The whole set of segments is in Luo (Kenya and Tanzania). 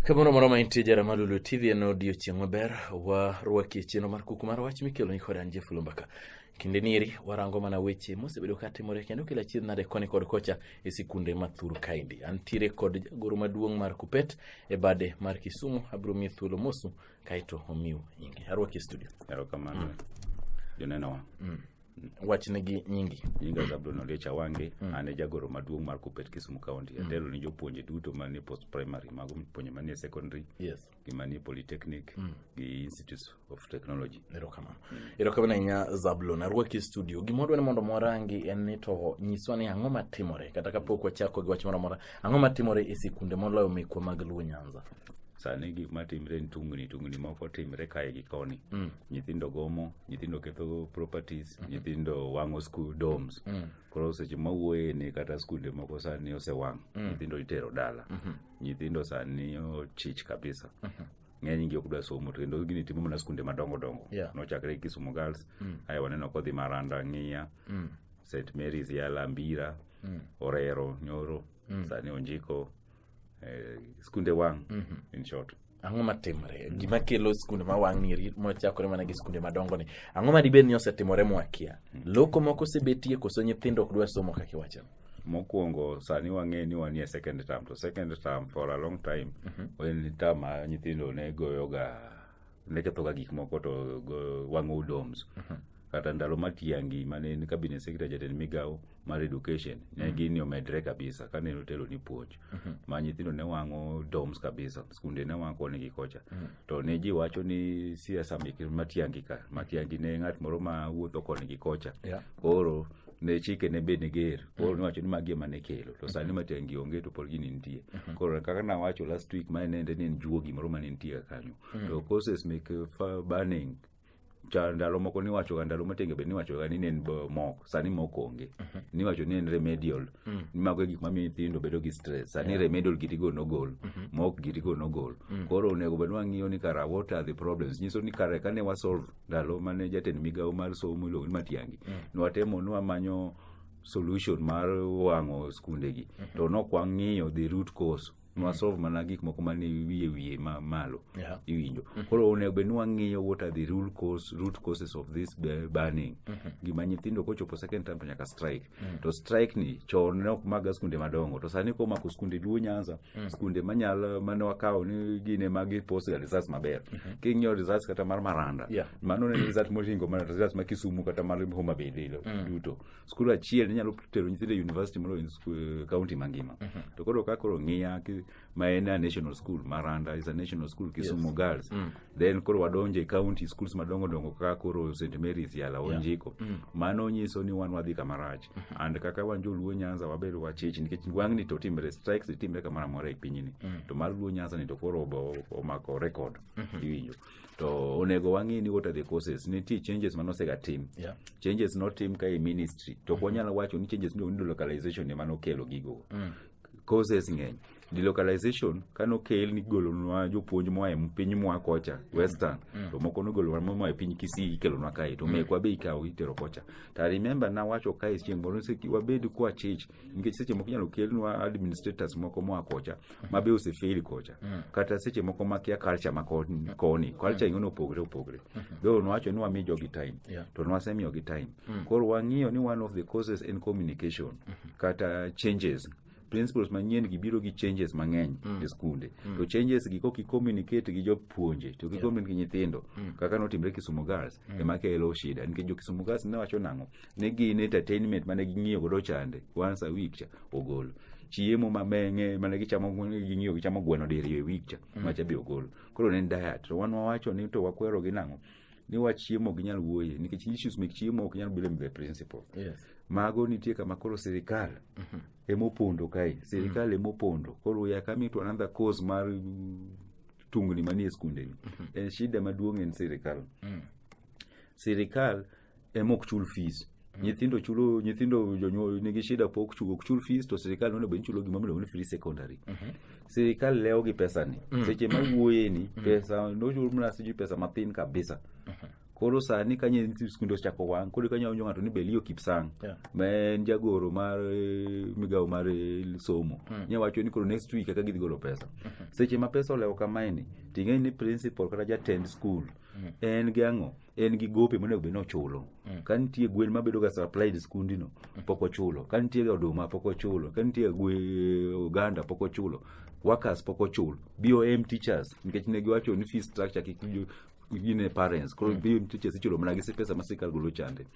Kamano moro ma intie jara malulu TV en odiochieng' maber warwaki e chenro mar kuku mar wach mikelo ni koda Jeff Lumbaka. Kinde nieri warango mana weche mosebedo ka timore kendo kila achiel nade koni kod kocha e sikunde ma thur kaendi. Antiere kod jagoro maduong' mar Kupet e bade mar Kisumu abiro miye thuolo mosu kaeto omiu nyingi arwaki e studio erokamano mm. jonenowa mm. mm. wachnegi nyingi nyinga zabulon oliech awange mm. an e jagoro maduong' mar kupet kisumu county mm. atelo ne jopuonje duto manie post primary mago puonje manie secondary yes. gi manie polytechnic mm. gi institute of technology erokamano mm. erokamano ahinya zabulon arwaki e studio gima wadwa ni mondo mwarangi en ni to nyiswa ni ang'o matimore kata kapok wachako gi wach moro amora Ang'o matimore e sikunde moloyo mekwa mag Luo Nyanza? sani gik matimre ni tungni tungni moko timre kae gi koni mm. nyithindo gomo nyithindo ketho properties mm -hmm. nyithindo wang'o school domes mm. koro seche mawuoye ni kata skunde moko sani osewang' mm. nyithindo itero dala mm -hmm. nyithindo sani ochich kabisa mm -hmm ng'eny gi ok dwa somo to kendo gini timo mana skunde madongo dongo yeah. nochakre kisumu girls mm. aye waneno kodhi maranda ng'iya mm. st marys yala mbira mm. mm. orero nyoro mm. sani onjiko eh, skunde wang' mm -hmm. in short ang'o matimre gima kelo skunde ma wang' ni mochakore mana gi skunde madongo ni ang'o ma dibed ni osetimore mwakia mm. loko moko osebetie koso nyithindo ok dwa somo kaka iwachano mokwongo sani wang'e ni wanie second term to second term for a long time mm -hmm. en term ma nyithindo ne goyoga ne kethoga gik moko to wang'o doms mhm. kata ndalo matiangi mane en cabinet secretary jatend migawo mar education ne mhm. gini omedre kabisa kane notelo ni puonj mhm. ma nyithindo ne wang'o doms kabisa skunde ne wang'o koni gi kocha to ne ji wacho ni siasa matiangi ka matiangi ne ng'at moro ma wuotho koni gi kocha koro ne chike ne be niger koro niwacho ni magi ema ne kelo to sani matiangi onge to pod gini nitie koro kaka nawacho last week mae nende ni en juogi moro mane nitie kaka kanyo to causes mek eh, fa- burning cha ndalo moko niwachoga ndalo matenge be niwachoga ni ne en bo- mok sani mok onge niwacho ni en remedial mago e gik mamiyo nyithindo bedo gi stress sani remedial gitigo nogol mok gitigo nogol koro onego bed wang'iyo ni kara what are the problems nyiso ni kare kane wasolve ndalo mane jatend migawo mar somo iluongo ni Matiangi nwatemo nwamanyo solution mar wang'o skundegi to nok wang'iyo the root cause nwasolve mana gik moko mane wiye wiye ma malo Yeah. iwinjo koro onego bed ni wang'iyo what are the rule cause, root causes of this be- burning gima nyithindo kochopo second term to nyaka strike mm. to strike ni chon ne ok maga skunde madongo to sani ko mako skunde duo nyanza mm. skunde manyalo mane wakawo ni gine magi post ga results maber mm -hmm. king'iyo results kata mar maranda yeah. mano ne result moringo mana results ma kisumu kata mar homa bay lilo mm. duto skul achiel inyalo tero nyithindo university moloyo eh, county mangima mm -hmm. to koro ka koro ng'iya maena national school maranda is a national school kisumu yes. girls mm. then koro wadonje county schools madongo dongo kaka koro st marys yala onjiko yeah. mm. mano nyiso ni wan wadhi kamarach mm -hmm. and kaka wan joluo nyanza wabedo wachich nikech wang'ni to timre strikes itimre kamoro amora e pinyni mm. to mar luo nyanza ni to koro omako record mm -hmm. iwinjo to onego wang'e ni what are the causes nitie changes mane osega tim yeah. changes notim ka e ministry to ok mm -hmm. wanyalo wacho ni changes miluongo ni localization ema nokelo gigo mm. courses ng'eny delocalization kano kel ni golonwa jopuonj moa e piny moa kocha western mm. to moko nogolonwa moa e piny kisii ikelonwa kae to mm. mekwa be ikawo itero kocha to i remember nawacho kae chieng' moro ni wabed kwa chich nikech seche moko inyalo kelnwa administrators moko moa kocha mm. ma be osefeli kocha mm. kata seche moko makia culture ma koni mm. culture ing'ono opogre opogre mm-hmm. though nwacho ni wami jogi time yeah. to nwasemiyogi time mm. koro wang'iyo ni one of the causes in communication mm -hmm. kata changes principles manyien gi biro gi changes mang'eny mm. e skunde mm. to changes gi kok i-communicate gi jopuonje to gi communicate gi nyithindo mm. kaka notimre Kisumu Girls mm. ema kelo shida nikech jo Kisumu Girls ne wacho nang'o ne gin entertainment mane ging'iyo godo chande once a week cha ogol chiemo mameng'e mane gichamo ging'iyo gichamo gweno diriyo e week cha mm. macha be ogol koro ne en diet to wan wawacho ni to wakwero gi nang'o ni wach chiemo ok nyal wuoye nikech issues mek chiemo ok nyal blame the principal Yes. mago nitie kama koro sirikal emopondo kae sirikal emopondo koro ya kami to another cause mar mm, tungni manie skundeni en shida maduong' en sirikal sirikal emok chul fees Mm. nyithindo chulo nyithindo jonyuol nigi shida pok chulo ok chul fees to sirikal nono be chulo gima miluongo ni free secondary Mhm. sirikal lewo gi pesa ni Mm. seche ma wuoye ni pesa nochul mana sijui pesa mathin kabisa Mhm. koro sani ka nyithi skunde ochako wang' koro ka nyawinjo ng'ato ni belio kipsang Yeah. ma en jagoro mar eh, migawo mar eh, somo Mm. nya wacho ni koro next week eka gidhi golo pesa seche ma pesa olewo kamaeni ting'eni ni principal kata jatend skul Mm. en gi ang'o en gi gope monego bed ni ochulo mm. ka nitie gwen mabedo ga supplied skundino mm. pok ochulo ka nitie ga oduma pok ochulo ka nitie gwe oganda pok ochulo workers pok ochul bom teachers nikech ne giwacho ni fee structure kik gine parents koro mm. bom teachers ichulo mana gi pesa ma sirkal golo chande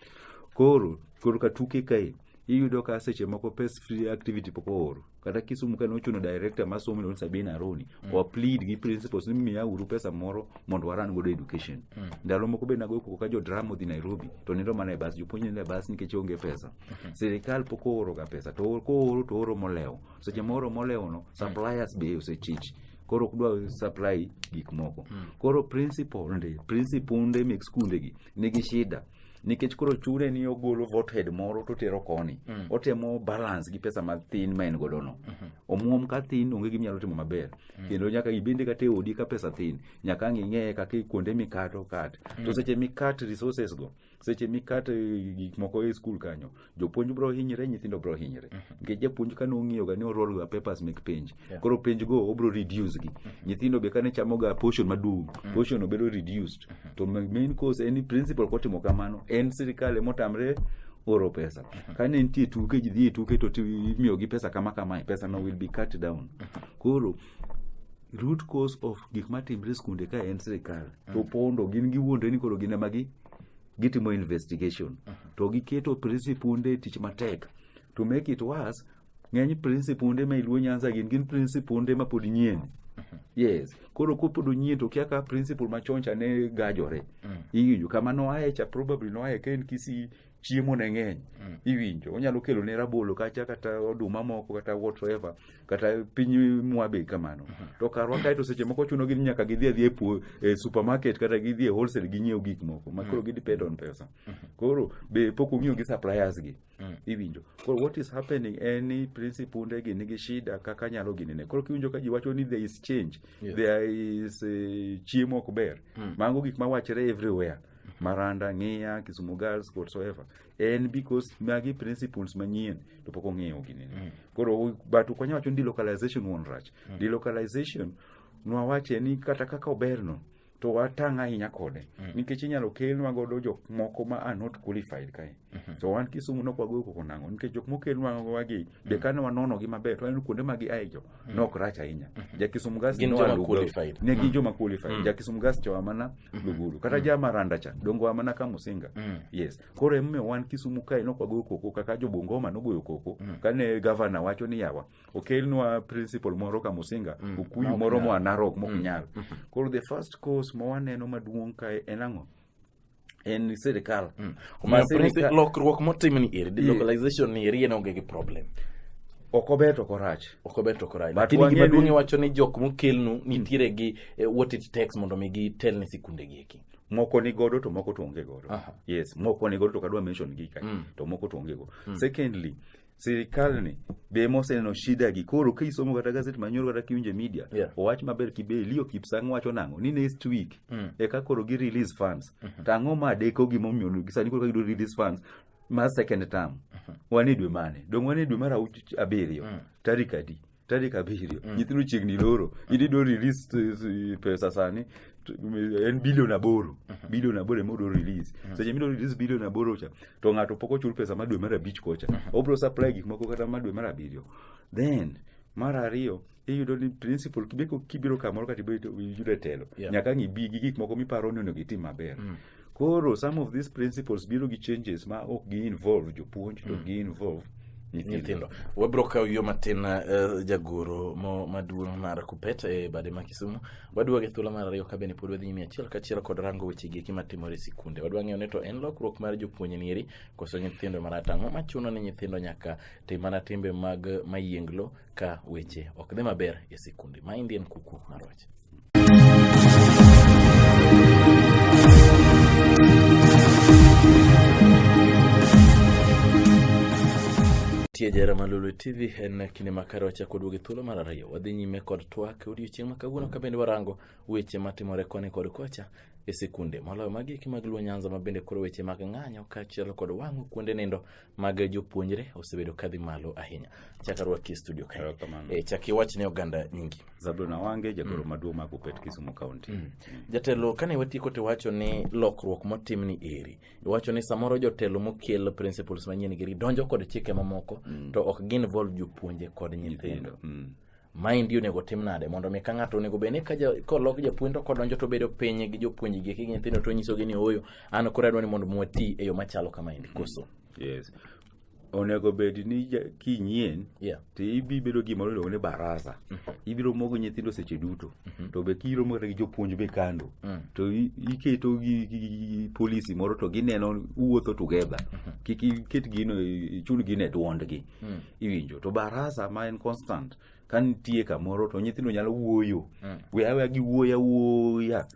koro koro ka tuke kae iyudo ka seche moko pes free activity pok ooro kata kisumu kane ochuno director ma somo iluongo sabini aroni mm. wa plead gi principles ni miya uru pesa moro mondo waran godo education mm. ndalo moko be nagoyo koko ka jo drama odhi nairobi to nindo mana e bas jopuonj nindo e bas nikech onge pesa mm-hmm. sirikal pok ooro ga pesa to kooro to ooro molewo seche mooro molewo no mm. suppliers be osechich koro ok dwa supply gik moko mm. koro principal nde principal nde mek skunde gi nigi shida nikech koro chune ni ogolo vothead moro to tero koni mm. otemo balance gi pesa mathin ma en godo no mm-hmm. omuom ka thin onge gi nyalo timo maber mm. kendo nyaka ibende kata odi ka pesa thin nyaka ang ing'eye kaka kuonde mikato kat mm. to seche mikat resources go seche mikat eh, gik moko e skul kanyo jopuonj bro hinyre nyithindo bro hinyre nikech japuonj kane ong'iyoga ni orolga papers mek penj Yeah. koro penj go obro reduce gi nyithindo be kane chamoga portion maduong portion obedo reduced to ma- main cause en ni principal kotimo kamano en sirikal emotamre oro pesa kane nitie tuke ji dhi e tuke to ti- imiyogi pesa kama kamae pesa no will be cut down koro root cause of gik matimre e skunde ka en sirikal to pondo gin giwuondre ni koro gin ema gi gitimo investigation to giketo principunde tich matek to make it worse ng'eny principunde ma iluo nyanza gin gin principunde ma pod nyien yes koro kopod onyien to kia ka principal machon cha ne gajore iwinjo kama noaye cha probably noaye ka en kisi chiemo ne ng'eny iwinjo onyalo kelo ne rabolo kacha kata oduma moko kata whatever kata piny mwa be kamano to karwa kae to seche moko chuno gin nyaka gidhi adhi e puo- e supermarket kata gidhi e wholesale ginyiew gik moko ma koro gidepend on pesa koro be pok ong'iyo gi suppliers gi iwinjo koro what is happening en ni principunde gi nigi shida kaka nyalo ginene koro kiwinjo ka ji wacho ni there is change Yeah. there is eh, chiemo ok ber mago gik mawachre everywhere maranda ng'iya kisumu girls whatsoever en because magi principles manyien to pok ong'eyo gini mm. koro but ok wanyal wacho ni delocalization wuon rach mm. delocalization nwawache ni kata kaka oberno to watang' ahinya kode mm. nikech inyalo kelnwa godo jok moko ma are not qualified kae mm -hmm. so wan kisumu nok wagoyo koko nang'o nikech jok mokelnwa wagi mm. be kane wanonogi maber to waneno kuonde ma giae jo ne ok rach ahinya jakisumu gas Gin joma qualified. ne gin joma qualified jakisumu gas chowa mana lugulu kata ja maranda cha dongo wa mana ka musinga yes koro emomiyo wan kisumu kae ne ok wagoyo koko kaka jo bungoma nogoyo koko kane gavana wacho ni yawa okelnwa principal moro ka musinga okuyu moro moa narok mok nyal koro the first cause ma waneno maduong' kae en ang'o en sirikal mm. lokruok motim ni eri delocalization ni eri en onge gi problem ok ober to korach ok ober to korach lakini gima duong' iwacho ni jok mokelnu mm. nitiere gi eh, what it takes mondo mi gitel ne sikunde gi eki moko ni godo to moko to onge godo yes moko ni godo to kadwa mention gi ka mm. to moko to onge godo mm. secondly sirikalni be moseneno shida gi koro ka isomo kata gazet manyoro kata kiwinje media yeah. owach maber kibe liyo kipsang wacho nango ni next week mm. eka koro gi release funds mm -hmm. tango ma deko gimomiyo gisani koro kagido release funds ma second term mm -hmm. wan e dwe mane dong wan e dwe mar abiriyo mm. tarik adi tarik abiriyo mm. nyithindo chiegni loro mm. in ido release eh, pesa sani eh, en bilion aboro mm-hmm. bilion aboro ema odo release mm-hmm. seche mido release bilion aboro cha to ng'ato pok ochul pesa ma dwe mar abich kocha mm-hmm. obro supply gik moko kata ma dwe mar abiriyo then mar ariyo iyudo ni principal kibeko kibiro kamoro kata iyudo e telo yeah. nyaka ng'ibi gi gik moko miparo ni onego itim maber mm. Koro some of these principles biro gi changes ma ok gi involve jopuonj to mm. gi involve nyithindo wabiro kawo yo matin uh, jagoro mo maduong' mar kupet e bade ma kisumu waduoge thuolo mar ariyo kabende pod wadhi nyime achiel kachiel kod rango weche gi eki matimore e sikunde wadwa ng'eyo ni to en lokruok mar jopuonj nieri koso nyithindo maratang'o machuno ni nyithindo nyaka tim mana timbe mag mayienglo ka weche ok dhi maber e sikundi. Ma Indian kuku mar wach. Tie jara Malulu TV en kinde makare wachako duogi thuolo mar ariyo. Wadhi nyime kod twak odiochieng' ma kawuono ka bende warango weche matimore koni kod kocha e sikunde moloyo magi eki mag Luo Nyanza ma bende koro weche mag ng'anyo kaachiel kod wang'o kuonde nindo mag jopuonjre osebedo kadhi malo ahinya chaka rwaki e studio kae Erokamano. e, chak iwach ne oganda nyingi Zablon Awange, jagoro maduong' ma Kupet Kisumu County. jatelo kane watieko to iwacho ni lokruok motim ni eri iwacho ni samoro jotelo mokel principles manyien giri donjo kod chike mamoko to ok gin vol jopuonje kod nyithindo Mm. Maendi onego tim nade mondo mi ka ng'ato onego bed ni ka ja- kolok japuonj to kodonjo to bedo piny gi jopuonj gi gi nyithindo to nyisogi ni ooyo an koro adwa ni mondo mi wati e yo machalo kamaendi koso yes onego bed ni ja- kinyien yeah to ibi bedo gima iluongo ni barasa ibiro mogo nyithindo seche duto to be kiromo kata gi jopuonj be kando Mm. to i- iketo gi- gi- gi- gi polisi moro to gineno uwuotho together kik iket gino ichul gino e dwondgi iwinjo to barasa ma en constant ka nitie kamoro to nyithindo nyalo wuoyo mm. we awe gi wuoya wuoya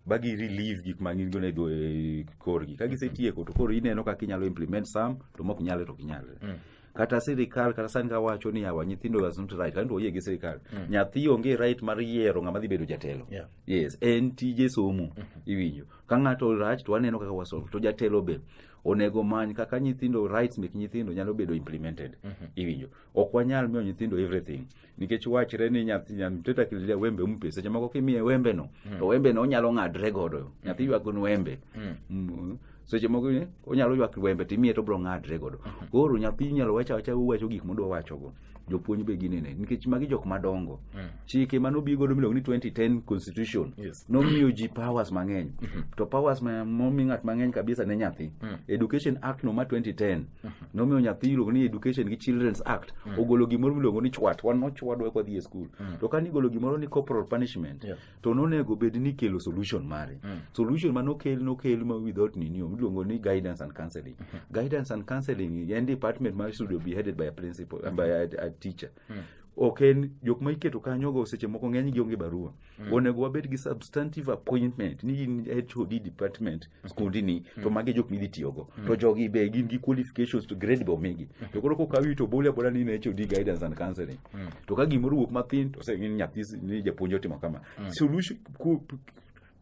ba gi relieve gik ma gin go ne do e korgi ka gisetieko to koro ineno kaka inyalo implement sam to mok nyale to kinyale mm. kata sirikal kata sani ka wacho ni awa nyithindo was not right kanto oyie gi sirikal mm. nyathi onge right mar yiero ng'ama dhi bedo jatelo yeah. yes en tije somo mm -hmm. iwinjo ka ng'ato rach to waneno kaka wasolve to jatelo be mm. onego many kaka nyithindo rights mek nyithindo nyalo bedo implemented mhm. iwinjo ok wanyal miyo nyithindo everything nikech wachre ni nyathi mteta kililia wembe umpe seche moko kimiye wembe no mhm. to wembe no onyalo ng'adre godo mhm. nyathi ywak ni wembe mm. seche moko onyalo ywak wembe timiye to bro ng'adre godo koro nyathi nyalo wacha wacha uwacho gik modwa wacho go jopuonj be ginene nikech magi jok madongo mm. chike mane obi godo miluongo ni 2010 constitution yes. nomiyo ji powers mang'eny mm -hmm. to powers momi ng'at mang'eny kabisa ne nyathi mm. education act no ma 2010 mm -hmm. nomiyo nyathi iluongo ni education gi children's act mm. ogolo gimoro miluongo ni chwat wan nochwadwa kwadhi e skul mm. to kane igolo gimoro ni corporal punishment yeah. to nonego bed ni kelo solution mare mm. solution mane okel nokel ma without ninio miluongo ni guidance and counseling mm -hmm. guidance and counseling en department ma should be headed by a principal mm -hmm. by a, a teacher mm -hmm ok en jok ma iketo kanyogo seche moko ng'eny gionge barua mm. onego wabed gi substantive appointment ni in hod department skundi ni to magi jok midhi tiyogo to jogi be gin gi qualifications to grade be omigi to koro kokawi to bole abola ni ne HOD guidance and counseling to ka gimoro wuok mathin to se ni nyathi s- ni japuonj otimo kama solution ku- p-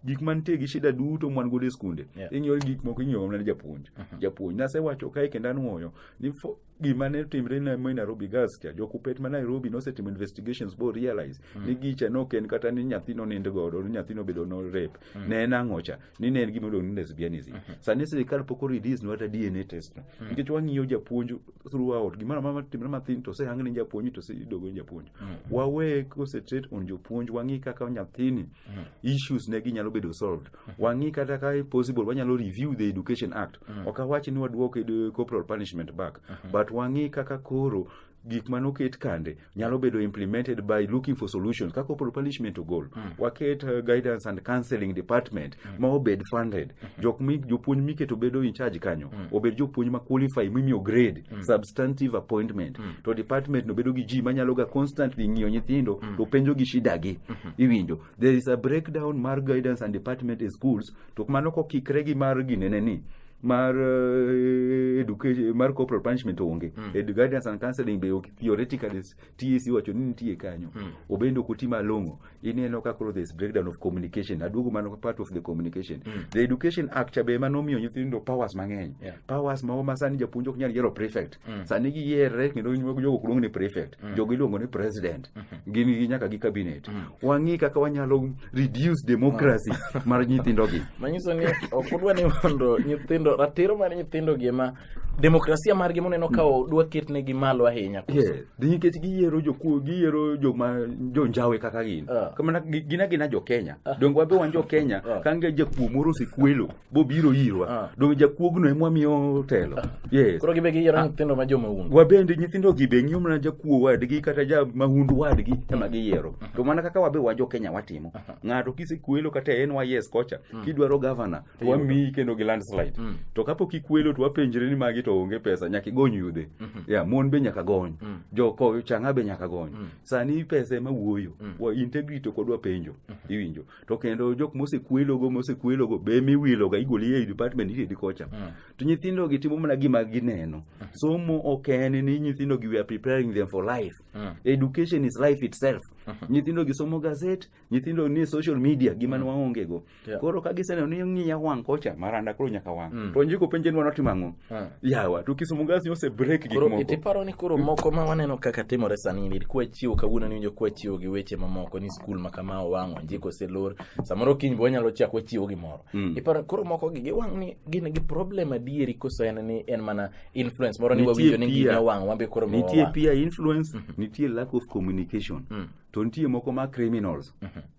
gik mantie gi shida duto mwan godo e skunde Yeah. inyuol gik moko inyuol mana ni japuonj japuonj nasewacho kae kendo anwoyo ni fo- gima ne timre na mo Nairobi gas cha jokupet ma Nairobi nosetimo investigations bo realize mm. ni gicha no ken kata ni nyathi no nind godo ni nyathi no bedo no rape mm. ne en ang'o cha ni ne en gima iluongo ni lesbianism mm -hmm. sani sirikal pok release no ata DNA test no mm. nikech wang'iyo japuonj throughout gimoro amora matimre mathin to osehang ni japuonj to osedogo ni japuonj mm. wawe concentrate on jopuonj wang'i kaka nyathini mm. issues ne ginyalo bedo solved mm. wang'i kata ka possible wanyalo review the education act Mm. Ok awach ni waduok eh, corporal punishment back, mm -hmm. but wang'i kaka koro gik ma noket kande nyalo bedo implemented by looking for solutions ka corporal punishment ogol mm. waket uh, guidance and counseling department mm. ma obed funded mm -hmm. jok mi jopuonj miketo bedo in charge kanyo mm. obed jopuonj ma qualify mimiyo grade mm. substantive appointment mm. to department no bedo gi ji manyalo ga constantly ng'iyo nyithindo mm. to penjo gi shida gi mm -hmm. iwinjo there is a breakdown mar guidance and department in schools to mano kokikre gi mar ginene ni mar eh, education mar corporal punishment onge mm. Edu guidance and counseling be ok- theoretically s- TSC wacho ni nitie kanyo mm. obende ok oti malong'o ineno ka koro this breakdown of communication aduogo mano part of the communication mm. the education act cha be ema nomiyo nyithindo powers mang'eny Yeah. powers mago ma sani japuonj ok nyal yiero prefect Mm. sani giyiere kendo ginyuogo jogo kuongo ni prefect mm. jogo iluongo ni president mm -hmm. gin gi nyaka gi cabinet mm. wang'i kaka wanyalo reduce democracy mm. mar nyithindogi manyiso ni ok udwa ni mondo nyithindo ratiro mar nyithindogi ema demokrasia margi moneno ka mm. dwa ketnegi malo ahinya yes. nikech giyiero jokuo giyiero joma jonjawe kaka gin uh. Ah. kamana gin agina jo kenya uh. Ah. donge wabe wan jo kenya uh. Ah. kange jakuo moro osekuelo bobiro irwa ah. donge jakuogno ema wamiyo telo ah. yes. koro gibe giyiero ah. nyithindo ma jomahundu wabende nyithindo gi be ng'iyo mana jakuo wadgi kata ja mahundu wadgi ema mm. giyiero mm. to mana kaka wabe wajo kenya watimo ng'ato kisekuelo kata en wayes kocha mm. kidwaro gavana to wamiyi kendo gi landslide to kapok ikuelo to wapenjre ni magi to onge pesa nyaka igony yude mm-hmm. ya mon be nyaka gony joko chang'a be nyaka gony sani pesa ema wuoyo integrity kod wapenjo mm-hmm. iwinjo to kendo jok mosekwelogo mosekwelogo be miwiloga igoli ei department itedi kocha Mm. to nyithindogi timo mana gima gineno somo ok en ni nyithindogi we are preparing them for life Mm. education is life itself nyithindogi somo gazet nyithindo ni social media gima ne waongego Yeah. koro ka giseneno ni ng'iya wang' kocha maranda koro nyaka wang' to njiko penje ni wanotimo ang'o Ah. yawa to kisumu gas nyo ose break gik Koro moko itiparo ni koro moko ma waneno kaka timore sani ni kwa chiwo kawuono ni winjo kwa chiwo gi weche mamoko ni skul ma kama owang' onjik oselor samoro kiny be wanyalo chak wachiwo gimoro Mm. iparo koro moko gi giwang' ni gin gi problem adieri koso en ni en mana influence moro ni Nitie wawinjo ni peer. gima wang' wan be koro miwa nitie wang'. peer influence nitie lack of communication Mm. to nitie moko ma criminals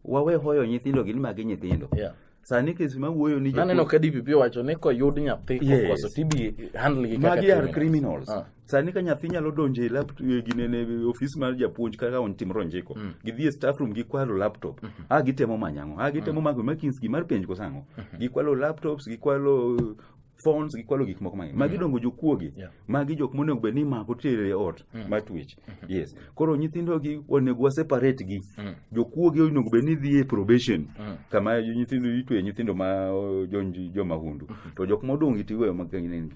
wawe hoyo nyithindo gin magi nyithindo Yeah. sani kes ma wuoyo ni naneno ka DPP owacho ni koyud nyathi Yes. okoso to ibi handle gi kaka magi are criminals Ah. sani ka nyathi nyalo donjo e laptop e ginene ofis mar japuonj kaka on timro njiko gidhi e staff room gikwalo laptop a gitemo manyo ang'o a gitemo manyo makins gimar penj koso ang'o gikwalo laptops gikwalo phones gikwalo gik moko mang'eny magi dongo jokuoge Yeah. magi jok monego bed ni mako tere e ot ma twech yes koro nyithindogi onego waseparate gi jokuoge onego bed ni dhi e probation kama nyithindo itwe nyithindo ma o, jonji jomahundu to jok modong' gi tiweyo magine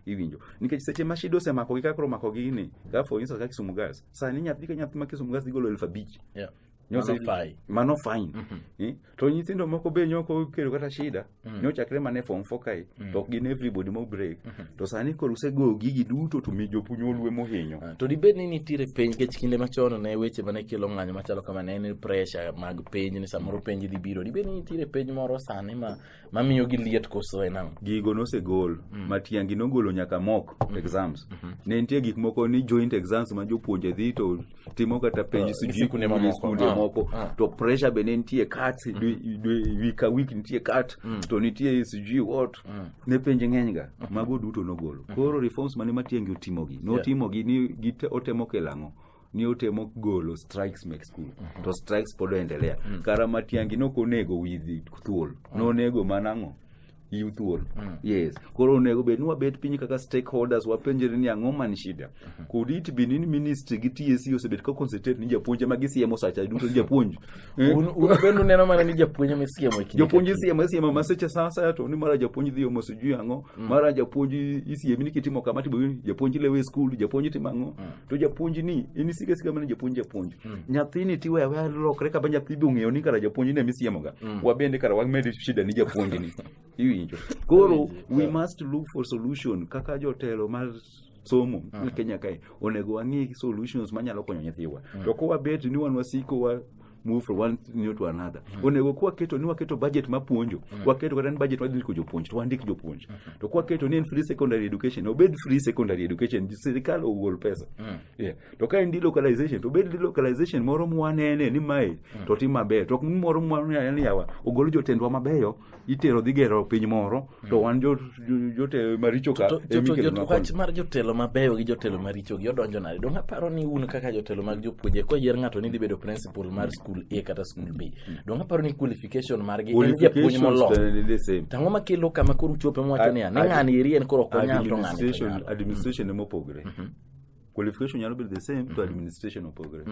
iwinjo nikech seche ma shida osemako gi kakoro mako gi ni ka for instance ka kisumu gas sani nyathi ka nyathi ma kisumu gas igolo elfu abich Yeah. Nyosa Mano fai. mano fine Mhm. Eh, to nyithindo moko be nyoko okelo kata shida Mm. nyochakre mana e form four kae Mm. to ok gin everybody mo break Mhm. to sani koro usego gigi duto to mi jopuny olwe mohinyo Ah, to dibed ni nitiere penj kech kinde machon ne weche mane kelo ng'anyo machalo kama ne en pressure mag penj ni samoro penj dhi biro dibed ni nitiere penj moro sani ma mamiyo gi liet koso en ang'o gigo nosegol mm. ma tiangi nogolo nyaka mok mm. exams mm-hmm. ne nitie gik moko ni joint exams ma jopuonje dhi to timo kata penj ah, sikunde ah, moko ah. to pressure be ne nitie kat mm-hmm. week a week nitie kat mm. to nitie sijui what ne penj ng'eny ga mm-hmm. mago duto nogolo koro reforms mane matiangi otimogi notimogi ni otemo kelang'o ni otemo golo strikes mek skul to strikes pod oendelea kara matiangi nokonego widhi thuol nonego mana ang'o yiw thuol yes koro onego bed ni wabet piny kaka stakeholders wapenjre ni ang'o man shida could it be ni ministry gi tsc osebet ka concentrate ni japuonj ema gisiemo sacha duto ni japuonj Eh, Un un bende uneno mana ni japuonj ema isiemo e kinde jopuonj ka kinde. isiemo isiemo maseche saa asaya to ni mara japuonj dhi omo sijui ang'o mara japuonj isiemi ni kitimo kama to iboyudi. japuonj lewe e skul japuonj timo ang'o to japuonj ni in isika sika mana japuonj japuonj mm. nyathini tiwe awe lokre kaba nyathi be ong'eyo ni kara japuonj ne misiemoga mm. wabende kara wamed shida ni japuonj ni iwinjo koro we must look for solution kaka jotelo mar somo uh -huh. kenya kae onego wang'i solutions manyalo konyo nyithiwa uh -huh. to kowabet ni wan wasiko wa move from one new to another onego kuwa keto ni waketo budget mapuonjo waketo kata ni budget wadhi ndiko jopuonj to wandik jopuonj to kuwa keto ni en free secondary education obed free secondary education sirikal ogol pesa yeah. to ka en delocalization to obed delocalization moro mwanene ni mae to tim maber to ok ni moro mwanene yawa ogol jotendwa mabeyo itero dhi gero piny moro to wan jo- jo- jotelo maricho ka To- to- emi to- kelonwa jot- wach koni. mar jotelo mabeyo gi jotelo maricho gi odonjo nade donge aparo ni un kaka jotelo mag jopuonje koyier ng'ato ni dhi bedo principal mar school a kata school b donge aparo ni qualification margi en japuonj Qualifications molony the- the same. tang'o makelo kama koro uchope mwacho niya ni Ad- ng'ani eri en koro ok onyal to ng'ani to Administration- nyalo administration ema opogore qualification nyalo bedo the same to administration opogore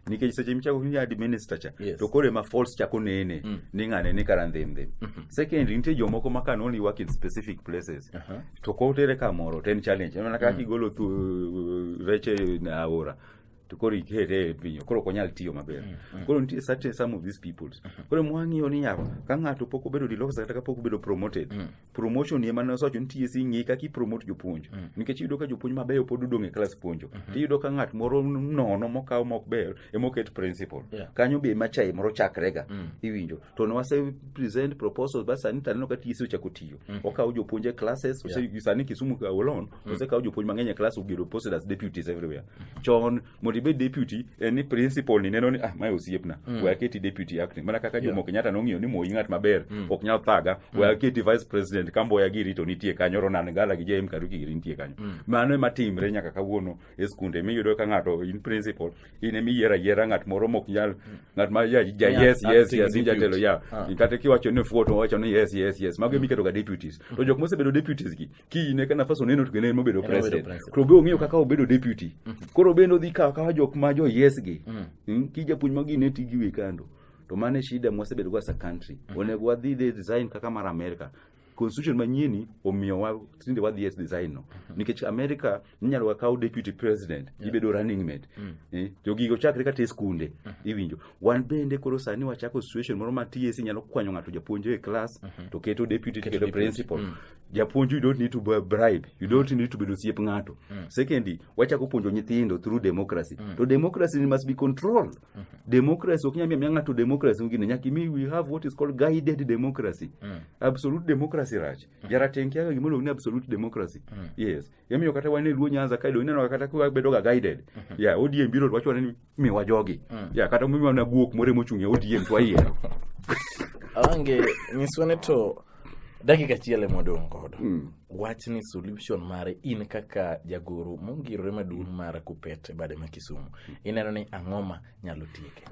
nikech seche michako winjo administer cha Yes. to koro ema false chako nene Mm. ni ng'ane ni kara ndhem ndhem Mhm. second nitie jomoko ma can only work in specific places Aha. to kotere kamoro to en challenge mana kaka igolo thu rech e na aora to koro ikete e pinyo koro ok onyal tiyo maber koro nitie certain some of these peoples koro mwang'iyo ni yawa ka ng'ato pok obedo deloxed kata ka pok obedo promoted promotion ema ne osewacho ni TSC ng'i kaka ipromote jopuonj mm. nikech iyudo ka jopuonj mabeyo pod odong' e klas puonjo mm -hmm. tiyudo ka ng'at moro nono mokaw mok ber ema oket principal yeah. kanyo be ema chai moro chakrega mm. iwinjo to ne wase present proposals ba sani taneno ka TSC ochako tiyo mm. okawo jopuonj e classes yeah. sani Kisumu Awolon mm. osekawo jopuonj mang'eny e class ogedo posted as deputies everywhere mm. chon mondo ibed deputy en ni principal ni neno ni ah mae osiepna mm. we aketi deputy acting mana kaka Jomo yeah. Kenyatta nong'iyo ni moyi ng'at maber mm. ok nyal thaga mm. we aketi vice president kamboya giri to nitie kanyo Ronan Gala gi JM Karuki giri nitie kanyo mm. mano ema timre nyaka kawuono e skunde miyudo ka ng'ato in principal in ema iyiero ayiera ng'at moro mok nyal mm. ng'at ma ja, ja yeah, yes yes yes in jatelo ya ah. kata kiwacho ni fuoto wacho ni yes yes yes mago mm. emiketo ga deputies mm. to jok mosebedo deputies gi kiny ne ka nafas oneno to kendo en mobedo Kendo obedo president president. koro be ong'eyo kaka obedo deputy koro bende odhi kawo kawa jok ma jo yes gi Mm, ki japuonj magi ne ti giwe kando to mano e shida mwasebedo go as a country onego wadhi the design kaka mar america constitution manyieni omiyowa tinde wadhi e design no nikech america inyalo ga kaw deputy president yeah. ibedo running mate mm. eh, jogigo chakre kata e skunde mm -hmm. iwinjo wan bende koro sani wachako situation moro ma TSC nyalo kwanyo ng'ato japuonj e class mm -hmm. to keto deputy keto, keto principal mm. japuonj you don't need to be bribe you don't mm. need to bedo siep ng'ato mm. secondly wachako puonjo nyithindo through democracy mm. to democracy must be controlled mm -hmm. democracy ok nyamia ng'ato democracy ngine nyaka mi we have what is called guided democracy mm. absolute democracy rach mm. jarateng kiaga gimoro ni absolute democracy mm. yes Emomiyo kata wan e Luo Nyanza kae do ineno kata kwa bedo ga guided. Mhm. Yeah, ODM biro to wacho ni mi wa jogi. Mm. Yeah, kata mi wana guok more mochung' e ODM to ayie. Ange nyiswa ni to dakika achiel ema odong' godo. Mm. Wach ni solution mare in kaka jagoro mongirore maduong' mar Kupet e bade ma Kisumu. Ineno ni ang'oma nyalo tieke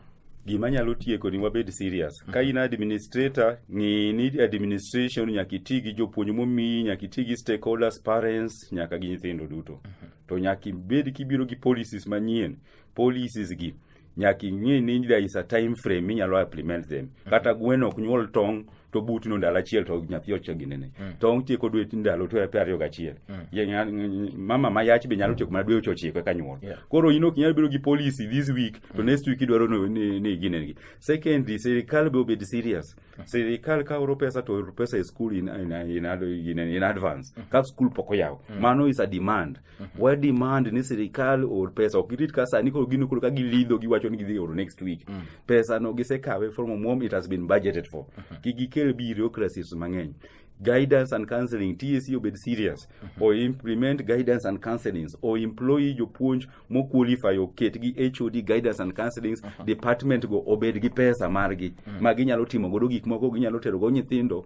gima nyalo tieko ni wabed serious ka in administrator ng'i ni administration nyaka iti gi jopuonj momiyi nyaka iti gi stakeholders parents nyaka gi nyithindo duto to nyaka ibed kibiro gi policies manyien policies gi nyaka ing'e ni there is a time frame minyalo implement them kata gweno ok nyuol tong' to buti no ndalo achiel to nyathi ochiek gi nene mm. to otieko dwe ndalo to pe ariyo gachiel mm. mama ma yach be nyalo tieko mana dwe ochiko eka nyuol yeah. koro in ok inyalo bedo gi policy this week to mm. next week idwaro ni, ni ginengi secondly sirikal be obed serious mm. sirikal ka oro pesa to oro pesa e school in, in, in, in, in, in advance mm. ka school pok oyaw mm. mano is a demand wa demand ni sirikal or pesa ok girit ka sani koro gino koro ka gilidho giwacho ni gidhi oro next week pesa no gisekawe from omwom it has been budgeted for kik gikel bureaucracies mang'eny guidance and counseling TSC obed serious or implement guidance and counselings or employ jopuonj mo qualify oket gi HOD guidance and counselings department go obed gi pesa margi ma ginyalo timo godo gik moko ginyalo tero go nyithindo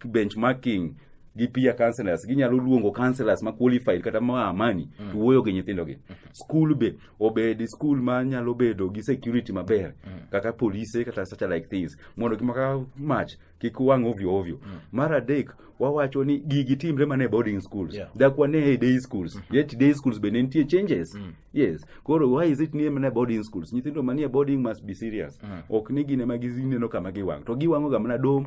benchmarking gi peer counselors ginyalo luongo counselors ma qualified kata ma amani mm. to wuoyo gi nyithindo gi mm. school be obed school ma nyalo bedo gi security maber mm. kaka police kata such like things mondo kik maka match kik wang ovyo ovyo mm. mar adek wawacho ni gigi timre mana e boarding schools yeah. dak wane e day schools mm -hmm. yet day schools bende nitie changes mm. yes koro why is it ni mana e boarding schools nyithindo manie boarding must be serious mm. ok ni gine ma gineno kama giwang to giwang'oga mana dom